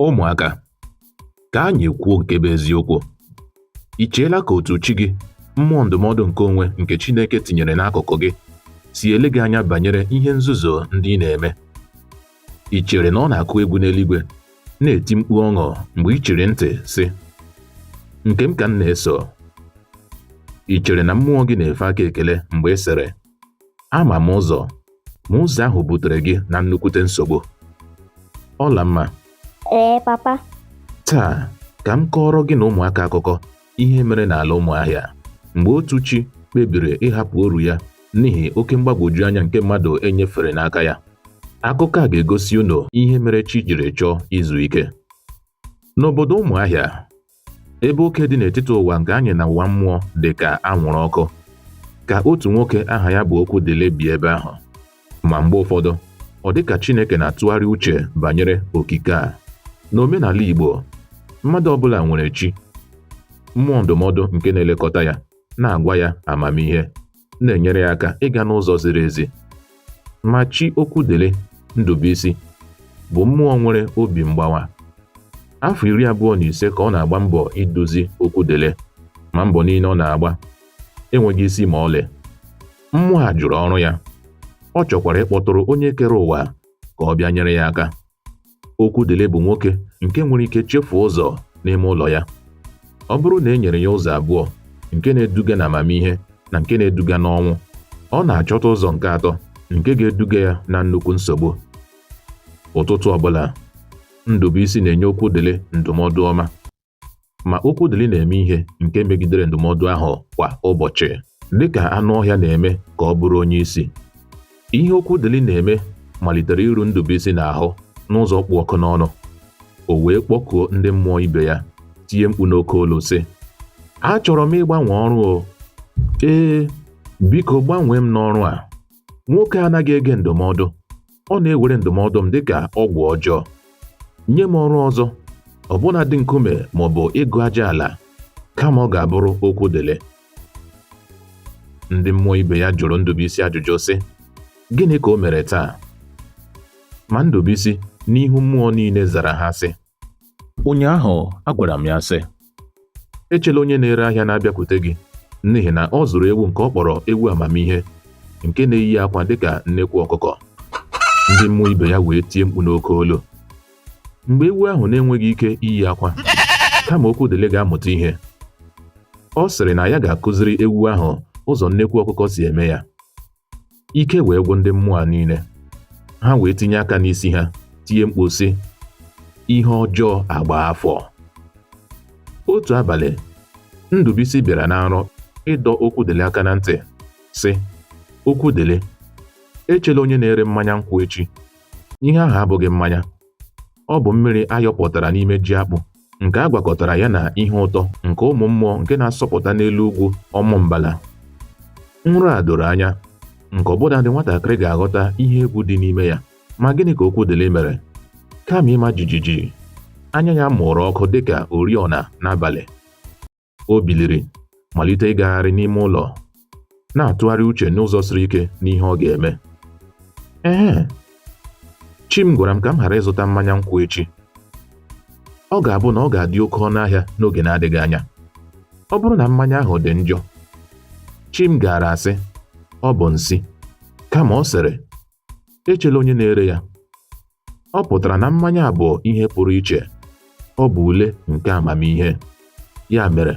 Ụmụaka, ka anyị kwuo nke bụ eziokwu. I cheela ka otu chi gị, mmụọ ndụmọdụ nke onwe nke Chineke tinyere n'akụkụ gị, si ele gị anya banyere ihe nzuzo ndị ị na-eme? I chere na ọ na-akụ egwu n'eluigwe, na-eti mkpu ọṅụ mgbe i chiri ntị, sị, Nke m ka m na-eso? I chere na mmụọ gị na-efe aka ekele mgbe ị sịrị, ama m ụzọ ma ụzọ ahụ butere gị na nnukwute nsogbu Ọlamma ee papa taa ka m kọọrọ gị na ụmụaka akụkọ ihe mere n'ala Ụmụahịa mgbe otu chi kpebiri ịhapụ ọrụ ya n'ihi oke mgbagwoju anya nke mmadụ enyefere n'aka ya akụkọ a ga-egosi unu ihe mere chi jiri chọọ izu ike n'obodo Ụmụahịa ebe oke dị n'etiti ụwa nke anyị na ụwa mmụọ dị ka anwụrụ ọkụ ka otu nwoke aha ya bụ Okwudili bi ebe ahụ ma mgbe ụfọdụ ọ dị ka Chineke na-atụgharị uche banyere okike a n'omenala Igbo mmadụ ọbụla nwere chi mmụọ ndụmọdụ nke na-elekọta ya na-agwa ya amamihe na-enyere ya aka ịga n'ụzọ ziri ezi. Ma chi Okwudili, Ndụbụisi, bụ mmụọ nwere obi mgbawa. Afọ iri abụọ na ise ka ọ na-agba mbọ iduzi Okwudili ma mbọ niile ọ na-agba enweghị isi ma ọlị. Mmụọ a jụrụ ọrụ ya. Ọ chọkwara ịkpọtụrụ onye kere ụwa ka ọ bịa nyere ya aka. Okwudili bụ nwoke nke nwere ike chefuo ụzọ n'ime ụlọ ya. Ọ bụrụ na e nyere ya ụzọ abụọ nke na-eduga na amamihe na nke na-eduga n'ọnwụ, ọ na-achọta ụzọ nke atọ nke ga-eduga ya na nnukwu nsogbu. Ụtụtụ ọbụla, Ndubuisi na-enye Okwudili ndụmọdụ ọma. Ma Okwudili na-eme ihe nke megidere ndụmọdụ ahụ kwa ụbọchị, dị ka anụ ọhịa na-eme ka ọ bụrụ onye isi. Ihe Okwudili na-eme malitere iru Ndụbụisi n'ahụ n'ụzọ kpụ ọkụ n'ọnụ. O wee kpọkuo ndị mmụọ ibe ya, tie mkpu n'oke olu sị, Achọrọ m ịgbanwe ọrụ o! Ee, biko gbanwee m n'ọrụ a! Nwoke a anaghị ege ndụmọdụ. ọ na-ewere ndụmọdụ m dịka ọgwụ ọjọọ nye m ọrụ ọzọ ọbụna dị nkume ma ọ bụ ịgụ aja ala kama ọ ga-abụrụ Okwudili ndị mmụọ ibe ya jụrụ Ndụbụisi ajụjụ sị gịnị ka o mere taa ma Ndụbụisi n'ihu mmụọ niile zara ha sị Ụnyaahụ agwara m ya sị, Echela onye na-ere ahịa na-abịakwute gị n'ihi na ọ zụrụ ewu nke ọ kpọrọ ewu amamihe nke na-eyi akwa dịka nnekwu ọkụkọ. Ndị mmụọ ibe ya wee tie mkpu n'oke olu. Mgbe ewu ahụ na-enweghị ike iyi akwa, kama Okwudili ga-amụta ihe, ọ sịrị na ya ga-akụziri ewu ahụ ụzọ nnekwu ọkụkọ si eme ya. ike wee gwụ ndị mmụọ a niile ha wee tinye aka n'isi ha tie mkpu sị ihe ọjọọ agbaa afọ otu abalị ndụbụisi bịara na nrọ ịdọ okwudịlị aka na ntị sị okwudịlị echela onye na-ere mmanya nkwụ echi ihe ahụ abụghị mmanya Ọ bụ mmiri a yọpụtara n'ime ji akpụ nke a gwakọtara ya na ihe ụtọ nke ụmụ mmụọ nke na-asọpụta n'elu ugwu Ọmụmbala. Nrọ a doro anya nke ọbụna ndị nwatakịrị ga-aghọta ihe egwu dị n'ime ya. Ma gịnị ka Okwudịlị mere? Kama ịma jijiji, anya ya mụrụ ọkụ dịka oriọna n'abalị. o biliri malite ịgagharị n'ime ụlọ na-atụgharị uche n'ụzọ siri ike n'ihe ọ ga-eme ee chi m gwara m ka m ghara ịzụta mmanya nkwụ echi ọ ga-abụ na ọ ga-adị oke ọnụ ahịa n'oge na-adịghị anya ọ bụrụ na mmanya ahụ dị njọ chi m gaara asị ọ bụ nsi kama ọ sịrị echela onye na-ere ya ọ pụtara na mmanya a bụ ihe pụrụ iche ọ bụ ule nke amamihe ya mere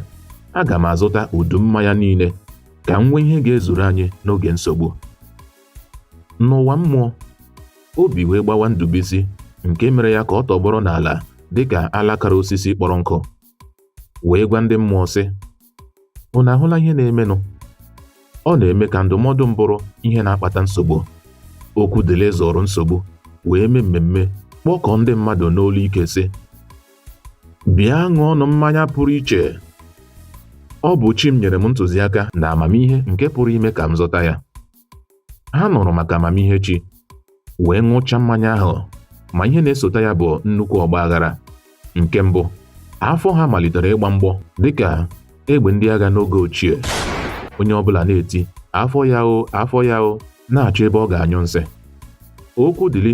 aga m azụta udu mmanya niile ka m nwee ihe ga-ezuru anyị n'oge nsogbu n'ụwa mmụọ obi wee gbawa ndụbụisi nke mere ya ka ọ tọgbọrọ n'ala dịka alakara osisi kpọrọ nkụ wee gwa ndị mmụọ sị Unu ahụla ihe na-emenụ? Ọ na-eme ka ndụmọdụ m bụrụ ihe na-akpata nsogbu. Okwudịlị zụrụ nsogbu wee mee mmemme kpọkọọ ndị mmadụ n'olu ike sị, Bịa ṅụọnụ mmanya pụrụ iche. Ọ bụ chi m nyere m ntụziaka na amamihe nke pụrụ ime ka m zụta ya. ha nụrụ maka amamihe chi wee ṅụcha mmanya ahụ ma ihe na-esota ya bụ nnukwu ọgba aghara nke mbụ afọ ha malitere ịgba mgbọ dịka egbe ndị agha n'oge ochie onye ọbụla na-eti afọ ya o afọ ya o na-achọ ebe ọ ga-anyụ nsị okwudịlị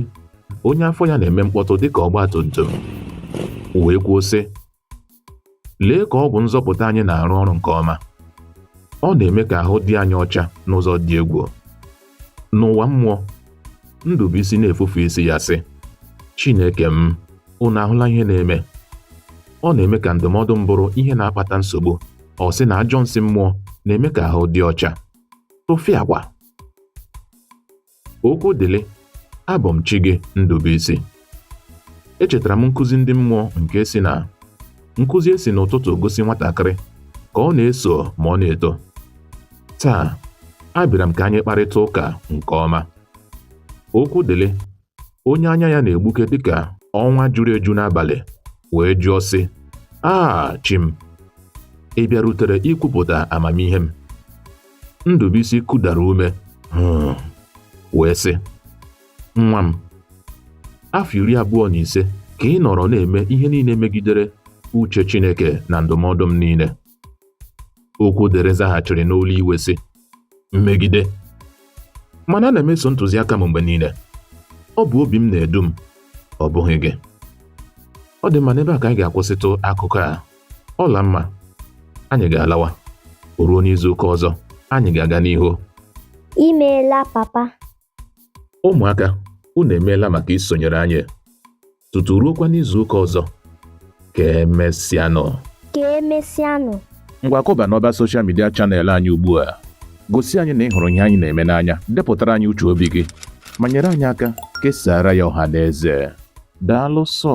onye afọ ya na-eme mkpọtụ dịka ọgbatumtum wee kwuo sị Lee ka ọgwụ nzọpụta anyị na-arụ ọrụ nke ọma. Ọ na-eme ka ahụ dị anyị ọcha n'ụzọ dị egwu. N'ụwa mmụọ, Ndụbụisi na-efufe isi ya sị, Chineke m, unu ahụla ihe na-eme. Ọ na-eme ka ndụmọdụ m bụrụ ihe na-akpata nsogbu. Ọ sị na ajọ nsi mmụọ na-eme ka ahụ dị ọcha. Tụfịakwa! okwudịlị abụ m chi gị Ndụbụisi echetara m nkụzi ndị mmụọ nke sị na nkụzi e si n'ụtụtụ gosi nwatakịrị ka ọ na-eso ma ọ na-eto taa abịara m ka anyị kparịta ụka nke ọma okwudịlị onye anya ya na-egbuke dịka ọnwa juru eju n'abalị wee jụọ sị aa chi m ị bịarutere ikwupụta amamihe m Ndụbụisi kudara ume hmm, wee sị nwa m afọ iri abụọ na ise ka ị nọrọ na-eme ihe niile megidere uche Chineke na ndụmọdụ m niile Okwudịrị zaghachiri n'olu iwe sị mmegide mana ana m eso ntụziaka m mgbe niile ọ bụ obi m na-edu m ọ bụghị gị ọ dị mma n'ebe a ka anyị ga-akwụsịtụ akụkọ a Ọlamma anyị ga-alawa o ruo n'izu ụka ọzọ anyị ga-aga n'ihu i meela papa ụmụaka unu emeela maka isonyere anyị tutu ruokwa n'izu ụka ọzọ ka emesịanụ ka emesịanụ ngwa kọba n'ọba soshal midia chanel anyị ugbu a gosi anyị na ị hụrụ ihe anyị na-eme n'anya depụtara anyị uche obi gị ma nyere anyị aka kesaara ya ọha na eze daalụ sọ